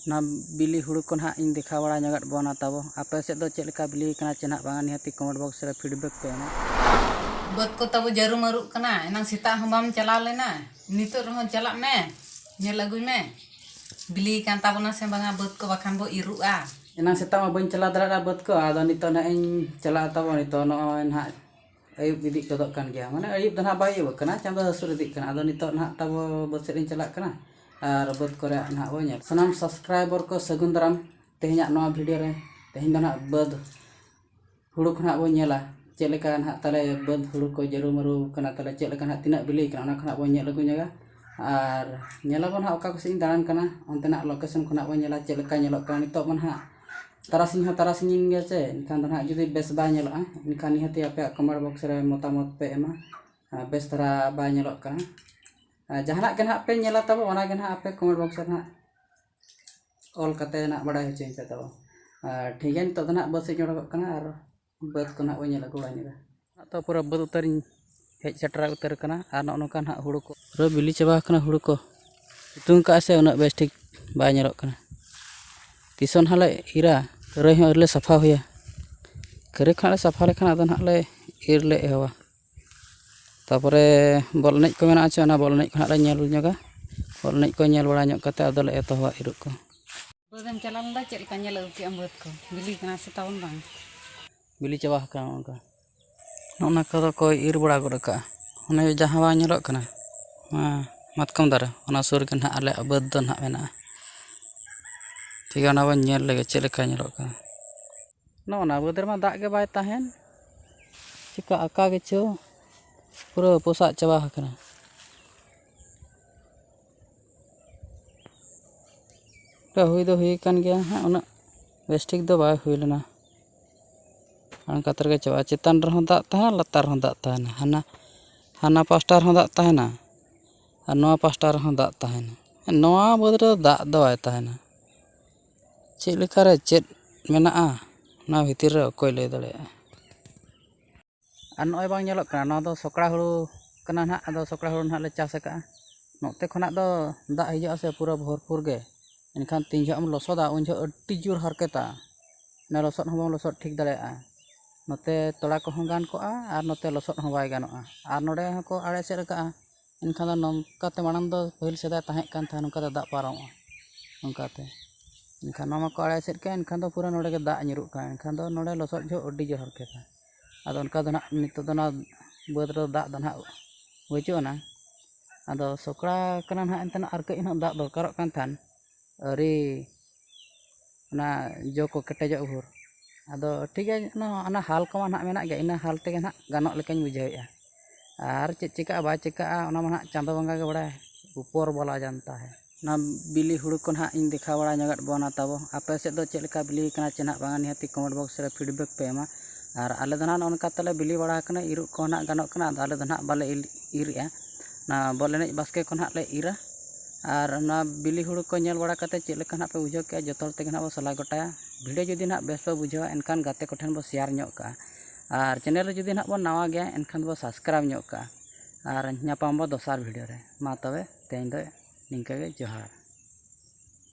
ᱚᱱᱟ ᱵᱤᱞᱤ ᱦᱩᱲᱩ ᱠᱚ ᱱᱟᱦᱟᱜ ᱤᱧ ᱫᱮᱠᱷᱟᱣ ᱵᱟᱲᱟ ᱧᱚᱜ ᱟᱫ ᱵᱚᱱᱟ ᱛᱟᱵᱚ ᱟᱯᱮ ᱥᱮᱫ ᱫᱚ ᱪᱮᱫ ᱞᱮᱠᱟ ᱵᱤᱞᱤ ᱟᱠᱟᱱᱟ ᱪᱮ ᱱᱟᱦᱟᱜ ᱵᱟᱝᱟ ᱱᱤᱦᱟᱹᱛᱤ ᱠᱚᱢᱮᱱᱴ ᱵᱚᱠᱥ ᱨᱮ ᱯᱷᱤᱰᱵᱮᱠ ᱯᱮ ᱮᱢᱟ ᱵᱟᱹᱫᱽ ᱠᱚ ᱛᱟᱵᱚ ᱡᱟᱹᱨᱩ ᱢᱟᱹᱨᱩᱜ ᱠᱟᱱᱟ ᱮᱱᱟᱝ ᱥᱮᱛᱟᱜ ᱦᱚᱸ ᱵᱟᱢ ᱪᱟᱞᱟᱣ ᱞᱮᱱᱟ ᱱᱤᱛᱚᱜ ᱨᱮᱦᱚᱸ ᱪᱟᱞᱟᱜ ᱢᱮ ᱧᱮᱞ ᱟᱹᱜᱩᱭ ᱢᱮ ᱵᱤᱞᱤ ᱟᱠᱟᱱ ᱛᱟᱵᱚᱱᱟ ᱥᱮ ᱵᱟᱝᱟ ᱵᱟᱹᱫᱽ ᱠᱚ ᱵᱟᱠᱷᱟᱱ ᱵᱚ ᱤᱨᱚᱜᱼᱟ ᱮᱱᱟᱝ ᱥᱮᱛᱟᱜ ᱢᱟ ᱵᱟᱹᱧ ᱪᱟᱞᱟᱣ ᱫᱟᱲᱮᱭᱟᱫᱟ ᱵᱟᱹᱫᱽ ᱠᱚ ᱟᱫᱚ ᱱᱤᱛᱚᱜ ᱱᱟᱦᱟᱜ ᱤᱧ ᱪᱟᱞᱟᱜᱼᱟ ᱛᱟᱵᱚ ᱱᱤᱛᱚᱜ ᱱᱚᱜᱼᱚᱭ ᱱᱟᱦᱟᱜ ᱟᱹᱭᱩᱵ ᱤᱫᱤᱜ ᱜᱚᱫᱚᱜ ᱠᱟᱱ ᱜᱮᱭᱟ ᱢᱟᱱᱮ ᱟᱹᱭᱩᱵ ᱫᱚ ᱦᱟᱸᱜ ᱵᱟᱭ ᱟᱹᱭᱩᱵᱚᱜ ᱠᱟᱱᱟ ᱪᱟᱸᱫᱚ ᱦᱟᱹᱥᱩᱨ ᱤᱫᱤᱜ ᱠᱟᱱᱟ ᱟᱫᱚ ᱱᱤᱛᱚᱜ ᱦᱟᱸᱜ ᱛᱟᱵᱚ ᱵᱟᱹᱫᱽ ᱥᱮᱫ ᱞᱤᱧ ᱪᱟᱞᱟᱜ ᱠᱟᱱᱟ ᱟᱨ ᱵᱟᱹᱫᱽ ᱠᱚᱨᱮ ᱦᱟᱸᱜ ᱵᱚᱱ ᱧᱮᱞᱟ ᱥᱟᱱᱟᱢ ᱥᱟᱵᱥᱠᱨᱟᱭᱵᱟᱨ ᱠᱚ ᱥᱟᱹᱜᱩᱱ ᱫᱟᱨᱟᱢ ᱛᱮᱦᱮᱧᱟᱜ ᱱᱚᱣᱟ ᱵᱷᱤᱰᱭᱳ ᱨᱮ ᱛᱮᱦᱮᱧ ᱫᱚ ᱦᱟᱸᱜ ᱵᱟᱹᱫᱽ ᱦᱩᱲᱩ ᱠᱚ ᱦᱟᱸᱜ ᱵᱚᱱ ᱧᱮᱞᱟ ᱪᱮᱫ ᱞᱮᱠᱟ ᱦᱟᱸᱜ ᱛᱟᱞᱮ ᱵᱟᱹᱫᱽ ᱦᱩᱲᱩ ᱠᱚ ᱡᱟᱹᱨᱩ ᱢᱟᱹᱨᱩ ᱠᱟᱱᱟ ᱛᱟᱞᱮ ᱪᱮᱫ ᱞᱮᱠᱟ ᱦᱟᱸᱜ ᱛᱤᱱᱟᱹᱜ ᱵᱤᱞᱤ ᱠᱟᱱᱟ ᱚᱱᱟ ᱠᱚ ᱦᱟᱸᱜ ᱵᱚᱱ ᱧᱮᱞ ᱟᱹᱜᱩ ᱧᱚᱜᱟ ᱟᱨ ᱧᱮᱞ ᱟᱵᱚᱱ ᱦᱟᱸᱜ ᱚᱠᱟ ᱠᱚᱥᱮᱫ ᱤᱧ ᱫᱟᱬᱟᱱ ᱠᱟᱱᱟ ᱚᱱᱛᱮᱱᱟᱜ ᱞᱳᱠᱮᱥᱚᱱ ᱠᱚ ᱦᱟᱸᱜ ᱵᱚᱱ ᱧᱮᱞᱟ ᱪᱮᱫ ᱞᱮᱠᱟ ᱧᱮᱞᱚᱜ ᱠᱟᱱᱟ ᱱᱤᱛᱚᱜ ᱢᱟ ᱦᱟᱸᱜ ᱛᱟᱨᱟᱥᱤᱧ ᱦᱚᱸ ᱛᱟᱨᱟᱥᱤᱧ ᱮᱱ ᱜᱮᱭᱟ ᱥᱮ ᱮᱱᱠᱷᱟᱱ ᱫᱚ ᱱᱟᱦᱟᱜ ᱡᱩᱫᱤ ᱵᱮᱥ ᱵᱟᱭ ᱧᱮᱞᱚᱜᱼᱟ ᱮᱱᱠᱷᱟᱱ ᱱᱤᱦᱟᱹᱛᱤ ᱟᱯᱮᱭᱟᱜ ᱠᱚᱢᱮᱱᱴ ᱵᱚᱠᱥ ᱨᱮ ᱢᱚᱛᱟᱢᱚᱛ ᱯᱮ ᱮᱢᱟ ᱟᱨ ᱵᱮᱥ ᱫᱷᱟᱨᱟ ᱵᱟᱭ ᱧᱮᱞᱚᱜ ᱠᱟᱱᱟ ᱟᱨ ᱡᱟᱦᱟᱱᱟᱜ ᱜᱮ ᱱᱟᱦᱟᱜ ᱯᱮ ᱧᱮᱞᱟ ᱛᱟᱵᱚ ᱚᱱᱟ ᱜᱮ ᱱᱟᱦᱟᱜ ᱟᱯᱮ ᱠᱚᱢᱮᱱᱴ ᱵᱚᱠᱥ ᱨᱮ ᱱᱟᱦᱟᱜ ᱚᱞ ᱠᱟᱛᱮᱫ ᱱᱟᱦᱟᱜ ᱵᱟᱰᱟᱭ ᱦᱚᱪᱚᱧ ᱯᱮ ᱛᱟᱵᱚ ᱟᱨ ᱴᱷᱤᱠ ᱜᱮᱭᱟ ᱱᱤᱛᱚᱜ ᱫᱚ ᱱᱟᱦᱟᱜ ᱵᱟᱥ ᱤᱧ ᱚᱰᱚᱠᱚᱜ ᱠᱟᱱᱟ ᱟᱨ ᱵᱟᱹᱫᱽ ᱠᱚ ᱱᱟᱦᱟᱜ ᱵᱚᱱ ᱧᱮᱞ ᱟᱹᱜᱩ ᱵᱟᱲᱟ ᱧᱚᱜᱟ ᱟᱫᱚ ᱯᱩᱨᱟᱹ ᱵᱟᱹᱫᱽ ᱩᱛᱟᱹᱨ ᱤᱧ ᱦᱮᱡ ᱥᱮᱴᱮᱨ ᱩᱛᱟᱹᱨ ᱟᱠᱟᱱᱟ ᱟᱨ ᱱᱚᱜᱼᱚ ᱱᱚᱝᱠᱟ ᱱᱟᱦᱟᱜ ᱦᱩᱲᱩ ᱠᱚ ᱯᱩᱨᱟᱹ ᱵᱤᱞᱤ ᱪᱟᱵᱟ ᱟᱠᱟᱱᱟ ᱦᱩᱲᱩ ᱠᱚ ᱥᱤᱛᱩᱝ ᱠᱟᱜᱼᱟᱭ ᱥᱮ ᱩᱱᱟᱹᱜ ᱵᱮᱥ ᱴᱷᱤᱠ ᱵᱟᱭ ᱧᱮᱞᱚᱜ ᱠᱟᱱᱟ ᱛᱤᱥ ᱦᱚᱸ ᱱᱟᱦᱟᱜ ᱞᱮ ᱤᱨᱟ ᱠᱷᱟᱹᱨᱟᱹᱭ ᱦᱚᱸ ᱟᱹᱣᱨᱤ ᱞᱮ ᱥᱟᱯᱷᱟ ᱦᱩᱭᱟ ᱠᱷᱟᱹᱨᱟᱹᱭ ᱠᱚ ᱦᱟᱸᱜ ᱞᱮ ᱥᱟᱯᱷᱟ ᱞᱮᱠᱷᱟᱱ ᱟᱫᱚ ᱱᱟᱦᱟᱜ ᱞᱮ ᱤᱨ ᱞᱮ ᱮᱦᱚᱵᱟ ᱛᱟᱯᱚᱨᱮ ᱵᱚᱞ ᱮᱱᱮᱡ ᱠᱚ ᱢᱮᱱᱟᱜᱼᱟ ᱥᱮ ᱚᱱᱟ ᱵᱚᱞ ᱮᱱᱮᱡ ᱠᱚ ᱦᱟᱸᱜ ᱞᱮ ᱧᱮᱞ ᱧᱚᱜᱟ ᱵᱚᱞ ᱮᱱᱮᱡ ᱠᱚ ᱧᱮᱞ ᱵᱟᱲᱟ ᱧᱚᱜ ᱠᱟᱛᱮ ᱟᱫᱚᱞᱮ ᱮᱛᱚᱦᱚᱵᱟ ᱤᱨᱚᱜ ᱠᱚ ᱵᱟᱹᱫᱽ ᱮᱢ ᱪᱟᱞᱟᱣ ᱞᱮᱱᱟ ᱪᱮᱫ ᱞᱮᱠᱟ ᱧᱮᱞ ᱟᱹᱜᱩ ᱠᱮᱫ ᱟᱢ ᱵᱟᱹᱫᱽ ᱠᱚ ᱵᱤᱞᱤ ᱠᱟᱱᱟ ᱥᱮ ᱛᱟᱵᱚᱱ ᱵᱟᱝ ᱵᱤᱞᱤ ᱪᱟᱵᱟ ᱟᱠᱟᱱᱟ ᱚᱱᱠᱟ ᱚᱱᱟ ᱠᱚᱫᱚ ᱠᱚ ᱤᱨ ᱵᱟᱲᱟ ᱜᱚᱫ ᱠᱟᱜᱼᱟ ᱚᱱᱮ ᱡᱟᱦᱟᱸ ᱵᱟᱝ ᱧᱮᱞᱚᱜ ᱠᱟᱱᱟ ᱚᱱᱟ ᱢᱟᱛᱠᱚᱢ ᱫᱟᱨᱮ ᱚᱱᱟ ᱥᱩᱨ ᱨᱮᱜᱮ ᱦᱟᱸᱜ ᱟᱞᱮᱭᱟᱜ ᱵᱟᱹᱫᱽ ᱫᱚ ᱦᱟᱸᱜ ᱢᱮᱱᱟᱜᱼᱟ ᱴᱷᱤᱠ ᱜᱮᱭᱟ ᱚᱱᱟ ᱵᱚᱱ ᱧᱮᱞ ᱞᱮᱜᱮ ᱪᱮᱫ ᱞᱮᱠᱟ ᱧᱮᱞᱚᱜ ᱠᱟᱱᱟ ᱱᱚᱜᱼᱚ ᱱᱟ ᱵᱟᱹᱫᱽ ᱨᱮᱢᱟ ᱫᱟᱜ ᱜᱮ ᱵᱟᱭ ᱛᱟᱦᱮᱱ ᱪᱤᱠᱟᱹ ᱟᱠᱟ ᱜᱮᱪᱚ ᱯᱩᱨᱟᱹ ᱯᱚᱥᱟᱜ ᱪᱟᱵᱟ ᱟᱠᱟᱱᱟ ᱛᱚ ᱦᱩᱭ ᱫᱚ ᱦᱩᱭ ᱟᱠᱟᱱ ᱜᱮᱭᱟ ᱦᱟᱸᱜ ᱩᱱᱟᱹᱜ ᱵᱮᱥ ᱴᱷᱤᱠ ᱫᱚ ᱵᱟᱭ ᱦᱩᱭ ᱞᱮᱱᱟ ᱚᱱᱠᱟ ᱛᱮᱜᱮ ᱪᱟᱵᱟᱜᱼᱟ ᱪᱮᱛᱟᱱ ᱨᱮᱦᱚᱸ ᱫᱟᱜ ᱛᱟᱦᱮᱱᱟ ᱞᱟᱛᱟᱨ ᱨᱮᱦᱚᱸ ᱫᱟᱜ ᱛᱟᱦᱮᱱᱟ ᱦᱟᱱᱟ ᱦᱟᱱᱟ ᱯᱟᱥᱴᱟ ᱨᱮᱦᱚᱸ ᱫᱟᱜ ᱛᱟᱦᱮᱱᱟ ᱟᱨ ᱱᱚᱣᱟ ᱯᱟᱥᱴᱟ ᱨᱮᱦᱚᱸ ᱫᱟᱜ ᱛᱟᱦᱮᱱᱟ ᱱᱚᱣᱟ ᱵᱟᱹᱫᱽ ᱨᱮᱫᱚ ᱫᱟᱜ ᱫᱚ ᱵᱟᱭ ᱛᱟᱦᱮᱱᱟ ᱪᱮᱫ ᱞᱮᱠᱟ ᱨᱮ ᱪᱮᱫ ᱢᱮᱱᱟᱜᱼᱟ ᱚᱱᱟ ᱵᱷᱤᱛᱤᱨ ᱨᱮ ᱚᱠᱚᱭ ᱞᱟᱹᱭ ᱫᱟᱲᱮᱭᱟᱜᱼᱟ ᱟᱨ ᱱᱚᱜᱼᱚᱭ ᱵᱟᱝ ᱧᱮᱞᱚᱜ ᱠᱟᱱᱟ ᱱᱚᱣᱟ ᱫᱚ ᱥᱚᱠᱲᱟ ᱦᱩᱲᱩ ᱠᱟᱱᱟ ᱱᱟᱜ ᱟᱫᱚ ᱥᱚᱠᱲᱟ ᱦᱩᱲᱩ ᱱᱟᱜ ᱞᱮ ᱪᱟᱥ ᱠᱟᱜᱼᱟ ᱱᱚᱛᱮ ᱠᱷᱚᱱᱟᱜ ᱫᱚ ᱫᱟᱜ ᱦᱤᱡᱩᱜ ᱟᱥᱮ ᱯᱩᱨᱟᱹ ᱵᱷᱚᱨᱯᱩᱨ ᱜᱮ ᱮᱱᱠᱷᱟᱱ ᱛᱤᱱ ᱡᱚᱦᱚᱜ ᱮᱢ ᱞᱚᱥᱚᱫᱟ ᱩᱱ ᱡᱚᱦᱚᱜ ᱟᱹᱰᱤ ᱡᱳᱨ ᱦᱟᱨᱠᱮᱛᱟ ᱚᱱᱟ ᱞᱚᱥᱚᱫ ᱦᱚᱸ ᱵᱟᱢ ᱞᱚᱥᱚᱫ ᱴᱷᱤᱠ ᱫᱟᱲᱮᱭᱟᱜᱼᱟ ᱱᱚᱛᱮ ᱛᱚᱲᱟ ᱠᱚᱦᱚᱸ ᱜᱟᱱ ᱠᱚᱜᱼᱟ ᱟᱨ ᱱᱚᱛᱮ ᱞᱚᱥᱚᱫ ᱦᱚᱸ ᱵᱟᱭ ᱜᱟᱱᱚᱜᱼᱟ ᱟᱨ ᱱᱚᱰᱮ ᱦᱚᱸᱠᱚ ᱟᱲᱮ ᱮᱥᱮᱫ ᱠᱟᱜᱼᱟ ᱮᱱᱠᱷᱟᱱ ᱫᱚ ᱱᱚᱝᱠᱟᱛᱮ ᱢᱟᱲᱟᱝ ᱫᱚ ᱯᱟᱹᱦᱤᱞ ᱥᱮᱫᱟᱭ ᱛᱟᱦᱮᱸ ᱠᱟᱱ ᱛᱟᱦᱮᱸᱫ ᱱᱚᱝᱠᱟ ᱛᱮ ᱫᱟᱜ ᱯᱟᱨᱚᱢᱚᱜᱼᱟ ᱚᱱᱠᱟᱛᱮ ᱮᱱᱠᱷᱟᱱ ᱱᱚᱣᱟ ᱢᱟᱠᱚ ᱟᱲᱮ ᱮᱥᱮᱫ ᱠᱮᱫ ᱮᱱᱠᱷᱟᱱ ᱫᱚ ᱯᱩᱨᱟᱹ ᱱᱚᱰᱮ ᱜᱮ ᱫᱟᱜ ᱧᱩᱨᱩᱜ ᱠᱟᱱᱟ ᱮᱱᱠᱷᱟᱱ ᱫᱚ ᱱᱚᱰᱮ ᱞᱚᱥᱚᱫ ᱡᱚᱦᱚᱜ ᱟᱹᱰᱤ ᱡᱳᱨ ᱦᱟᱨᱠᱮᱛᱟ ᱟᱫᱚ ᱚᱱᱠᱟ ᱫᱚ ᱱᱟᱜ ᱱᱤᱛᱚᱜ ᱫᱚ ᱱᱟᱜ ᱵᱟᱹᱫᱽ ᱨᱮ ᱫᱟᱜ ᱫᱚ ᱱᱟᱜ ᱵᱟᱹᱪᱩᱜ ᱟᱱᱟᱝ ᱟᱫᱚ ᱥᱚᱠᱲᱟ ᱠᱟᱱᱟ ᱱᱟᱜ ᱮᱱᱛᱮ ᱟᱨ ᱠᱟᱹᱡ ᱦᱟᱸᱜ ᱫᱟᱜ ᱫᱚᱨᱠᱟᱨᱚᱜ ᱠᱟᱱ ᱛᱟᱦᱮᱸᱫ ᱟᱹᱣᱨᱤ ᱚᱱᱟ ᱡᱚ ᱠᱚ ᱠᱮᱴᱮᱡᱚᱜ ᱵᱷᱳᱨ ᱟᱫᱚ ᱴᱷᱤᱠ ᱜᱮᱭᱟ ᱮᱱᱠᱷᱟᱱ ᱚᱱᱟ ᱦᱟᱞ ᱠᱚᱢᱟ ᱱᱟᱦᱟᱜ ᱢᱮᱱᱟᱜ ᱜᱮ ᱤᱱᱟᱹ ᱦᱟᱞ ᱛᱮᱜᱮ ᱱᱟᱦᱟᱜ ᱜᱟᱱᱚᱜ ᱞᱮᱠᱟᱧ ᱵᱩᱡᱷᱟᱹᱣᱮᱫᱼᱟ ᱟᱨ ᱪᱮᱫ ᱪᱤᱠᱟᱹᱜᱼᱟ ᱵᱟᱭ ᱪᱤᱠᱟᱹᱜᱼᱟ ᱚᱱᱟ ᱢᱟ ᱱᱟᱦᱟᱜ ᱪᱟᱸᱫᱚ ᱵᱚᱸᱜᱟ ᱜᱮ ᱵᱟᱲᱟᱭᱟ ᱩᱯᱚᱨ ᱵᱟᱞᱟ ᱡᱟᱱᱛᱟ ᱦᱮ ᱚᱱᱟ ᱵᱤᱞᱤ ᱦᱩᱲᱩ ᱠᱚ ᱱᱟᱦᱟᱜ ᱤᱧ ᱫᱮᱠᱷᱟᱣ ᱵᱟᱲᱟ ᱧᱚᱜ ᱟᱫ ᱵᱚᱱᱟ ᱛᱟᱵᱚ ᱟᱯᱮ ᱥᱮᱫ ᱫᱚ ᱪᱮᱫ ᱞᱮᱠᱟ ᱵᱤᱞᱤ ᱟᱠᱟᱱᱟ ᱥᱮ ᱱᱟᱦᱟᱜ ᱵᱟᱝᱟ ᱱᱤᱦᱟᱹᱛᱤ ᱠᱚᱢᱮᱱᱴ ᱵᱚᱠᱥ ᱨᱮ ᱯᱷᱤᱰᱵᱮᱠ ᱯᱮ ᱮᱢᱟ ᱟᱨ ᱟᱞᱮ ᱫᱚ ᱱᱟᱦᱟᱜ ᱱᱚᱜᱼᱚ ᱱᱚᱝᱠᱟ ᱛᱮᱞᱮ ᱵᱤᱞᱤ ᱵᱟᱲᱟ ᱟᱠᱟᱱᱟ ᱤᱨᱚᱜ ᱠᱚᱦᱚᱸ ᱱᱟᱦᱟᱜ ᱜᱟᱱᱚᱜ ᱠᱟᱱᱟ ᱟᱫᱚ ᱟᱞᱮ ᱫᱚ ᱱᱟᱦᱟᱜ ᱵᱟᱞᱮ ᱤᱨᱮᱫᱼᱟ ᱚᱱᱟ ᱵᱚᱞ ᱮᱱᱮᱡ ᱵᱟᱥᱠᱮ ᱠᱚ ᱱᱟᱦᱟᱜ ᱞᱮ ᱤᱨᱟ ᱟᱨ ᱚᱱᱟ ᱵᱤᱞᱤ ᱦᱩᱲᱩ ᱠᱚ ᱧᱮᱞ ᱵᱟᱲᱟ ᱠᱟᱛᱮᱫ ᱪᱮᱫ ᱞᱮᱠᱟ ᱱᱟᱦᱟᱜ ᱯᱮ ᱵᱩᱡᱷᱟᱹᱣ ᱠᱮᱫᱼᱟ ᱡᱚᱛᱚ ᱦᱚᱲ ᱛᱮᱜᱮ ᱱᱟᱦᱟᱜ ᱵᱚᱱ ᱥᱟᱞᱟ ᱜᱚᱴᱟᱭᱟ ᱵᱷᱤᱰᱤᱭᱳ ᱡᱩᱫᱤ ᱱᱟᱦᱟᱜ ᱵᱮᱥ ᱯᱮ ᱵᱩᱡᱷᱟᱹᱣᱟ ᱮᱱᱠᱷᱟᱱ ᱜᱟᱛᱮ ᱠᱚᱴᱷᱮᱱ ᱵᱚᱱ ᱥᱮᱭᱟᱨ ᱧᱚᱜ ᱠᱟᱜᱼᱟ ᱟᱨ ᱪᱮᱱᱮᱞ ᱨᱮ ᱡᱩᱫᱤ ᱱᱟᱦᱟᱜ ᱵᱚᱱ ᱱᱟᱣᱟ ᱜᱮᱭᱟ ᱮᱱᱠᱷᱟᱱ ᱵᱚᱱ ᱥᱟᱵᱥᱠᱨᱟᱭᱤᱵᱽ ᱧᱚᱜ ᱠᱟᱜᱼᱟ ᱟᱨ ᱧᱟᱯᱟᱢ ᱟᱵᱚᱱ ᱫᱚᱥᱟᱨ ᱵᱷᱤᱰᱤᱭᱳ ᱨᱮ ᱢᱟ ᱛᱚᱵᱮ ᱛᱮᱦᱮᱧ ᱫᱚ ᱱᱤᱝᱠᱟᱹ ᱜᱮ ᱡᱚᱦᱟᱨ